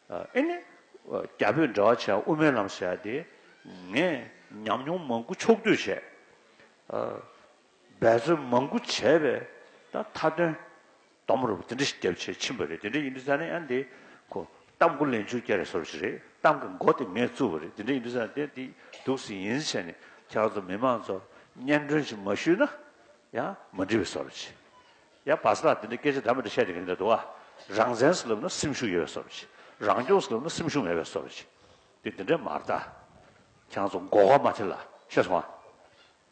ཨེ་ནི། རྒྱ་བོད་འབྲེལ་བ་བྱས་དབུ་མའི་ལམ་ཟེར་ཡ་དེ། ངས་ཉམས་མྱོང་མང་པོ་ཕྱོགས་བསྡུས་བྱས། འབད་བརྩོན་མང་པོ་བྱས་པས་ད་མཐའ་དོན། དོམ་རུབ་དེ་འདྲ་ཞིག་རྒྱབ་ཆེད་ཕྱིན་པ་རེད་དེ་འདྲ་ཡིན་དུས་ས་ནི་ཨ་འདི། གཏམ་མགོ་ལན་བཅུ་བརྒྱ་རེ་བཟོ་རུ་ཞིག་རེད་གཏམ་གྱི་མགོ་དེ་ངས་བཙུགས་པ་རེད་དེ་འདྲ་ཡིན་དུས་ས་དེ་འདི་སྡུག་ཟིག་ཡིན་ཟེར་ནས་ཁྱེད་ཚོ་མི་མང་ཚོ་སྙན་སྒྲོན་ཞིག་མ་ཞུས་ན་ཡང་མ་འགྲིག་པའི་བཟོ་རུ་ཆེ། ཡང་བ་ས་དང་འདི་འདྲའི་སྐད་ཆ་འདྲ་མི་འདྲ་བཤད་དེ་ག་འདྲ་འདུག་ཨ། རང་བཙན་ཟེར་ལབ་ན་སེམས་ཤུགས་ཡོད་པའི་བཟོ་རེད། རང་སྐྱོང་ཟེར་ལབ་ན་སེམས་ཤུགས་མེད་པའི་བཟོ་རེད། འདི་འདི་འདྲའི་མ་རྟ། ཁྱང་ཚོ་མགོ་བ་མ་ཐེ་ལ་ཤེས་སོང་ཨ།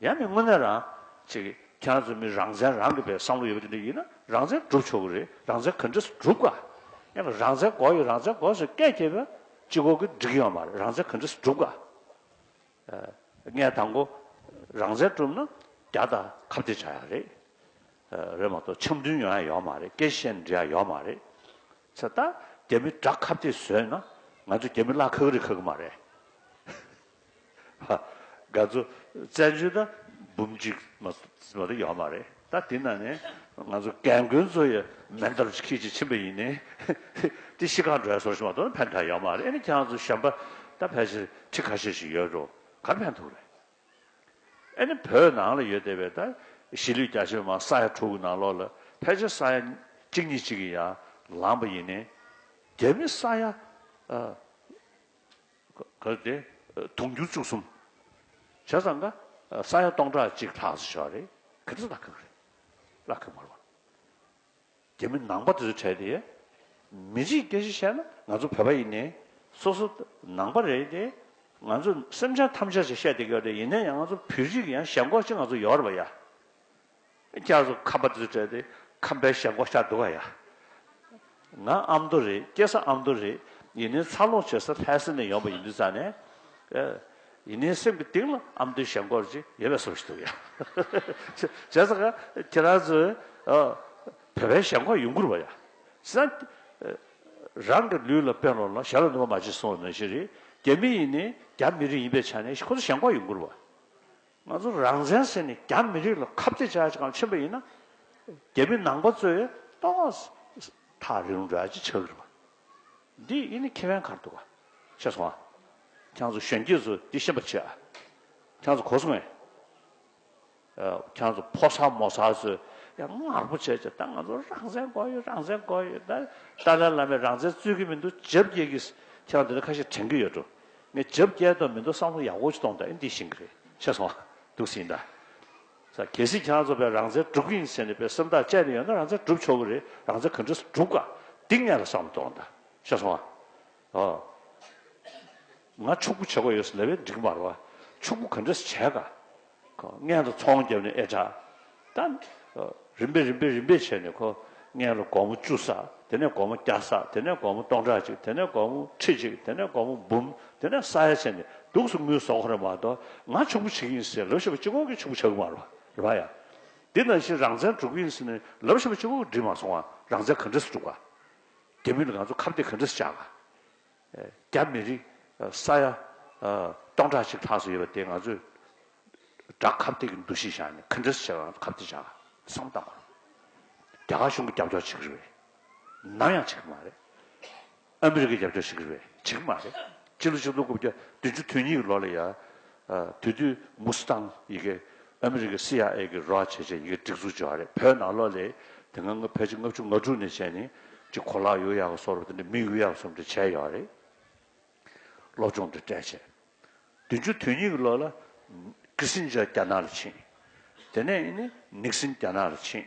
ཡང་མི་དངོས་གནས་རང། ཅིག་ཁྱང་ཚོ་མི་རང་བཙན་རང་གི་བའི་བསམ་བློ་ཡོད་པ་འདི་འདྲ་ཡིན་ན་རང་བཙན་སྒྲུབ་ཆོག་གི་རེད་རང་བཙན་ག་འདྲས་སུ་སྒྲུབ་དགོས་ཨ། ཡང་རང་བཙན་འགོ་ཡོད་རང་བཙན་འགོ་ཟེར་སྐད་སྐྱེས་པའི་སྤྱི་འགོ་གི་འགྲིག་ཡོད་མ་རེད་རང་བཙན་ག་འདྲས་སུ་སྒྲུབ་དགོས་ཨ། ལྔའི་དང་པོ། རང་བཙན་བསྒྲུབ་ན་རྒྱ་དང་ཁ་བརྡས་བྱ་ཡག་རེད། རེད་མ་གཏོགས་འཆམ་མཐུན་ཡོང་ཡ་ཡོག་མ་རེད་སྐད་བཤད་འབྲི་ཡ་ཡོག་མ་རེད། ཚེ་ད་རྒྱ་མི་དགྲ་ཁ་བརྡས་བཟོས་ན་ང་ཚོ་རྒྱ་མི་གླག་ཁག་རི་ཁག་གི་མ་རེད། ཧཧཧཧ། དགའ་ཚོ་བཙན་བྱོལ་ད་འབུམ་གཅིག་མ་གཏོགས་ཡོག་མ་རེད། ད་དེ་ན་ནི་ང་ཚོ་རྒན་རྒོན་ཚོ་ཡི་མེ་འདར་ཅིག་ཁྱིད་ཅིག་ཕྱིན་པ་ཡིན་ནི། དེ་ཤི་ཁང་འགྲོ་ཡ་སོར་ཞིག་མ་གཏོགས་ནི་ཕན་ཐག་ཡོད་མ་རེད་ཨེ་ནི་ཁྱེད་རང་ཚོ་གཞོན་པ་ད་ཕལ་ཆེར་ཁྲི་ཁ་ཤས་ཤིག་ཡོད་འགྲོ་གར་ཕན་ཐུག་རེད། ཨེ་ནི་བོད་ནང་ལ་ཡོད་བསྡད་པའི་ད་གཞིས་ལུས་རྒྱ་ཆེ་བ་མང་ས་ཡ་དྲུག་གི་ནང་ལོགས་ལ་ཕལ་ཆེར་ས་ཡ་གཅིག་གཉིས་གཅིག་གི་ཡང་ལངས་པ་ཡིན་ནི། རྒྱ་མི་ས་ཡ། གར་དེ། དུང་འགྱུར་བཅུ་གསུམ། བྱས་ཙང་ཀ། ས་ཡ་སྟོང་ཕྲག་གཅིག་ལྷག་བྱས་པ་རེད། ག་དུས་ལ་ཁག་རེད། ལ་ཁག་མར་བ། རྒྱ་མི་ནང་པ་དེ་ཚོ་བྲལ་ཏེ། མི་རིགས་སྐད་གཞི་བཤད་ན་ང་ཚོ་བོད་པ་ཡིན་ནའི། སོ་སོ། ནང་པ་རེད་དེ། ང་ཚོ་སེམས་ཅན་ཐམས་ཅད་ཅེས་བཤད་དེ་ག་རེད་ཡིན་ནའི་ཡང་ང་ཚོ་བོད་རིགས་ཡང་ཞེན་ཁོག་ཅིག་ང་ཚོ་ཡོད་རེད་པ་ཡ། སྐྱར་དུ་ཁམས་པ་འཛུལ་བྲལ་ཏེ་ཁམས་པའི་ཞབས་མགོ་བཤགས་འདུག་ག་ཡ། ང་ཨ་མདོ་རེད་སྐྱེས་ས་ཨ་མདོ་རེད་ཡིན་ནའི་འཚར་ལོངས་བྱེད་ས་ལྷའི་སེམས་ནས་ཡོང་པ་ཡིན་དུས་ཙང་ནས། ཡིན་ནའི་སེམས་ཀྱི་གཏིང་ལ་ཨ་མདོའི་ཞབས་མགོར་ཅིག་ཡོད་པའི་བསམ་བཞིན་འདུག་ཡ། བྱས་ཙང་ང་ཁྱེད་རང་ཚོའི་བོད་པའི་ཞབས་མགོར་ཡོང་དགོས་རུང་བ་ཡ། བྱས་ཙང་རང་གི་ལུས་ལ་བན་ལོང་ལ་ཞབས་ལ་ནུས་པ་མ་བྱེད་སོང་བའི་ནང་བཞིན་རེད་རྒྱ་མི་ཡིན་ནའི་རྒྱ་མི་རིགས་ཡིན་པའི་ཆ་ནས་ཁོ་ཚོ་ཞབས་མགོར་ཡོང་དགོས་རུང་བ། ང་ཚོ་རང་བཙན་ཟེར་ནས་རྒྱ་མི་རིགས་ལ་ཁབ་རྩེད་བྱ་གང་ཕྱིན་པ་ཡིན་ན། རྒྱ་མི་ནང་པ་ཚོས་ཏོག་ཐག་རིང་འདྲ་ཅི་བྱ་གི་རེད་བ། འདི་ཡིན་ནི་ཁྱེད་བན་གར་འདུག་ག་ཤེས་སོང་ཨ། ཁྱང་ཚོ་གཞོན་སྐྱེས་ཚོ་འདི་ཤེས་པར་བྱེད་ཨ། ཁྱང་ཚོ་གོ་སོང་ངས། ཁྱང་ཚོ་ཕོ་གསར་མོ་གསར་ཚོས་ཡ་ངར་པོ་བྱས་བྱས་ད་ང་ཚོ་རང་བཙན་དགོས་ཡོད་རང་བཙན་དགོས་ཡོད་ད་ཏཱ་ལའི་བླ་མས་རང་བཙན་རྩོད་གི་མི་འདུག་བྱབ་རྒྱལ་གྱིས་ཁྱང་འདི་འདྲ་ཁ་ཤས་དྲན་གི་ཡོད་འགྲོ། ངས་བརྗབ་བསྐྱལ་དོན་མི་འདུག་བསམ་བློ་ཡག་པོ་ཅིག་གཏོང་དང་ཨེ་འདི་ཤིང་གི་རེད་ཤེས་སོང་འདུག་སེ་ཡིན་ད། གལ་སྲིད་ཁྱེད་རང་ཚོ་བས་རང་བཙན་སྒྲུབ་གི་ཡིན་ཟེར་ནས་བས་སེམས་ཐག་བཅད་ནས་ཡོད་ན་རང་བཙན་སྒྲུབ་ཆོག་གི་རེད་རང་བཙན་ག་འདྲི་ས་སྒྲུབ་ག་འདི་ངས་ལ་བསམ་བློ་གཏོང་ད་ཤེས་སོང་ཨ། ང་ཕྱུག་པོ་བྱེད་དགོས་ཡོད་ས་ལས་བས་འགྲིག་མ་རོ། ཕྱུག་པོ་ག་འདྲི་ས་བྱས་ག། མངལ་དུ་ཚོང་བརྒྱབ་ནས་ཨེ་དྲག་ད། རིམ་པས་རིམ་པས་རིམ་པས་བྱས་ནས་ཁོ་མངལ་ལ་སྒོར་མོ་བཅུ་བསགས་དེ་ནས་སྒོར་མོ་བརྒྱ་བསགས་དེ་ནས་སྒོར་མོ་སྟོང་ཕྲག་གཅིག་དེ་ནས་སྒོར་མོ་ཁྲི་གཅིག་དེ་ནས་སྒོར་མོ་འབུམ་དེ་ནས་བསགས་ཡ་བྱས་ནས་སྡུག་སོ་མུལ་སོ་ཁོ་རེ་མ་གཏོགས་ང་ཕྱུག་པོ་བྱེད་ཀྱི་ཡིན་ཟེར་ལབ་ཤེས་པ་སྤྱི་ཁོག་གི་ཕྱུག་པོ་བྱ་གི་མ་རེད་བ་ཡ། འདི་ནང་བཞིན་རང་བཙན་དཀྲུག་གི་ཡིན་ཟེར་ནས་ལབ་ཤེས་པ་སྤྱི་ཁོག་གི་འགྲིག་མ་སོང་བ་རང་བཙན་ག་འདྲས་སུ་དཀྲུག་ག། དེ་མིན་ང་ཚོ་ཁ་བརྡས་ག་འདྲས་སུ་བྱ་ག། རྒྱ་མི་རིགས་ས་ཡ་སྟོང་ཕྲག་གཅིག་ལྷག་སུ་ཡོད་པ་དེ་ང་ཚོས་དགྲ་ཁ་བཏེག་གི་འདུ་ཤེས་བཞག་ནས་གང་འདྲ་བྱས་པའང་ཁ་བཏེག་བཞག་བསམ་བཏང་བ་རེད། རྒྱ་གར་གཞུང་གི་རྒྱབ་སྐྱོར་བྱེད་གི་རེད་པས་ནམ་ཡང་བྱེད་གི་མ་རེད། ཨ་མི་རི་ཀའི་རྒྱབ་སྐྱོར་བྱེད་གི་རེད་པས་བྱེད་གི་མ་རེད། སྤྱི་ལོ་ཆིག་སྟོང་དགུ་བརྒྱ་བདུན་ཅུ་དོན་གཉིས་ཀྱི་ལོ་ལ་ཡ་དེ་དུས་མུ་སི་ཐང་ཡི་གེ་ཨ་མི་རི་ཀའི་སི་ཨའེ་གི་རོགས་བྱེད་ཆེད་ཡི་གེ་སྒྲིག་འཛུགས་བྱས་བ་རེད་བོད་ནང་ལོགས་ལས་དེ་སྔ་ཕལ་ཆེར་ལྔ་བཅུ་ང་དྲུག་ནས་བྱས་ནས་ཅིག་གོ་ལག་ཡོ་ཡག་གི་སོགས་རུ་དེ་འདྲའི་མིང་ཡོ་ཡག་གསུམ་དེ་བྱས་ཡོད་བ་རེད་སློབ་སྦྱོང་དེ་སྤྲད་ཆེད། བདུན་ཅུ་དོན་གཉིས་ཀྱི་ལོ་ལ། ཀི་སིན་ཇར་རྒྱ་ནག་ལ་ཕྱིན། དེ་ནས་ནིག་སིན་རྒྱ་ནག་ལ་ཕྱིན།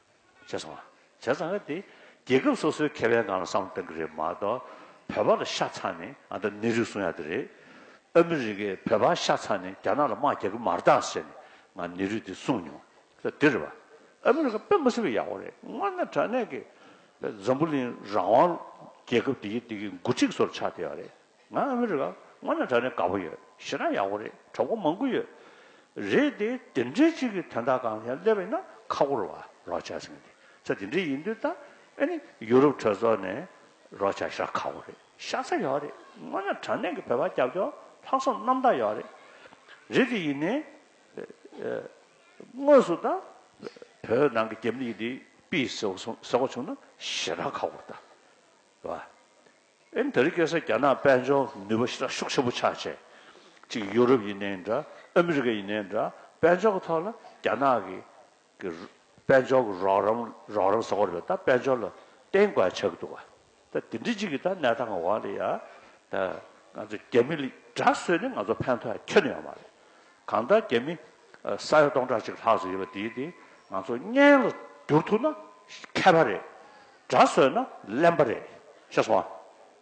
བྱས་སོང། བྱས་ཙང་ག་དེ་རྒྱལ་ཁབ་སོ་སོའི་ཁེ་ཕན་ནང་ལ་བསམ་བློ་གཏང་གི་རེད་མ་གཏོགས། བོད་པ་ལ་ཤ་ཚ་ནས་ཨ་མདོ་གནས་རིགས་གསུང་ཡ་དེ་རེད། ཨ་མི་རི་ཀས་བོད་པ་ཤ་ཚ་ནས་རྒྱ་ནག་ལ་དམག་རྒྱག་གི་མ་རེད་དྭ་ཟེར་ནས་ང་གནས་རིགས་དེ་གསུང་མྱོང། ད་དེ་རེད་པ། ཨ་མི་རི་ཀ་དཔེ་མ་ཟིན་པ་ཡག་པོ་རེད་སྔོན་ན་དྲ་གནས་ཀྱི། འཛམ་བུ་གླིང་རང་དབང་རྒྱལ་ཁབ་དེ་གི་དེ་གི་འགོ་ཁྲིད་སོར་ཆགས་བསྡད་པ་རེད། ང་ཨ་མི་རི་ཀ་སྔོན་ལ་གྲགས་ནས་དགའ་པོ་ཡོད་ཤི་ན་ཡག་པོ་རེད་གྲོགས་པོ་མང་པོ་ཡོད་རེད་དེ་དེ་འདྲའི་གཅིག་གི་དོན་དག་གང་ཡང་སླེབས་ཡིན་ན་ཁ་ཁོར་བ་རོགས་བྱ་སེམས་དེ་ཚ་དེ་འདྲའི་ཡིན་དུས་ད་ཨེ་ནི་ཡུ་རོབ་གྲོས་ཚོགས་ནས་རོགས་བྱ་ཤ་ཁ་བོ་རེད་ཤ་ཚ་ཡོད་རེད་སྔོན་ལ་དྲང་གནས་ཀྱི་བོད་པ་རྒྱབ་སྐྱོར་ལྷག་བསམ་རྣམ་དག་ཡོད་རེད་རེད་དེ་ཡིན་ནའི་དངོས་སུ་ད་བོད་ནང་གི་རྒྱབ་ལིག་དེ་པི་ཟེ་བོ་བྱུང་ན་ཤི་ན་ཁ་ཁོར་ད་བ་ཨེ་འདི་རི་སྐད་ས་རྒྱ་ནག་དཔལ་འབྱོར་ནུས་པ་ཤི་ལ་ཤུགས་ཆེན་པོ་ཆགས་ཆེ། གཅིག་ཡུ་རོབ་ཡིན་ནའི་འདྲ་ཨ་མི་རི་ཀ་ཡིན་ནའི་འདྲ་དཔལ་འབྱོར་གྱི་ཐོག་ལ་རྒྱ་ནག་གི་གི་དཔལ་འབྱོར་གྱི་རོགས་རམ་རོགས་རམ་ཟེར་བ་རེད་པས་ད་དཔལ་འབྱོར་ལ་བརྟེན་དགོས་ཡ་ཆགས་ཀྱི་འདུག་ད་དེ་འདྲི་གཅིག་གི་ད་གནས་སྟངས་འོག་ལ་ཡ་ད་ང་ཚོ་རྒྱ་མི་ལི་དྲག་བཟོས་ནས་ང་ཚོ་ཕན་ཐོགས་ཡ་ཁྱོན་ཡོང་མ་རེད་གང་ལྟར་རྒྱ་མི་ས་ཡ་སྟོང་ཕྲག་གཅིག་ལྷག་ཙམ་ཡོད་པ་འདིའི་དེ་ང་ཚོ་བརྙན་ལ་བསྒྱུར་ཐུབ་ན་མཁས་པ་རེད། དགྲ་བཟོས་ན་གླེན་པ་རེད། ཤེས་སོང་ཨ།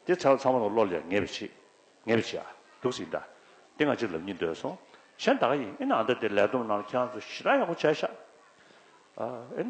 དེ་ཚང་ཚང་མ་ལ་བློ་ལས་ངེས་པའི་ཆེད། ངེས་པའི་ཆེད་ཨ། སྡུག་ཟིག་འདྲ། དེ་ང་ཅིག་ལབ་གཉིས་སྡོད་སོང། གཞན་ད་ག་ཡིན་ཨིན་ཨ་མདའ་དེ་ལས་བསྡོམས་གནང་ལ་ཁྱེད་རང་ཚོ་ཞི་དྲག་ཡག་པོ་བྱས་ཤག་ཨ།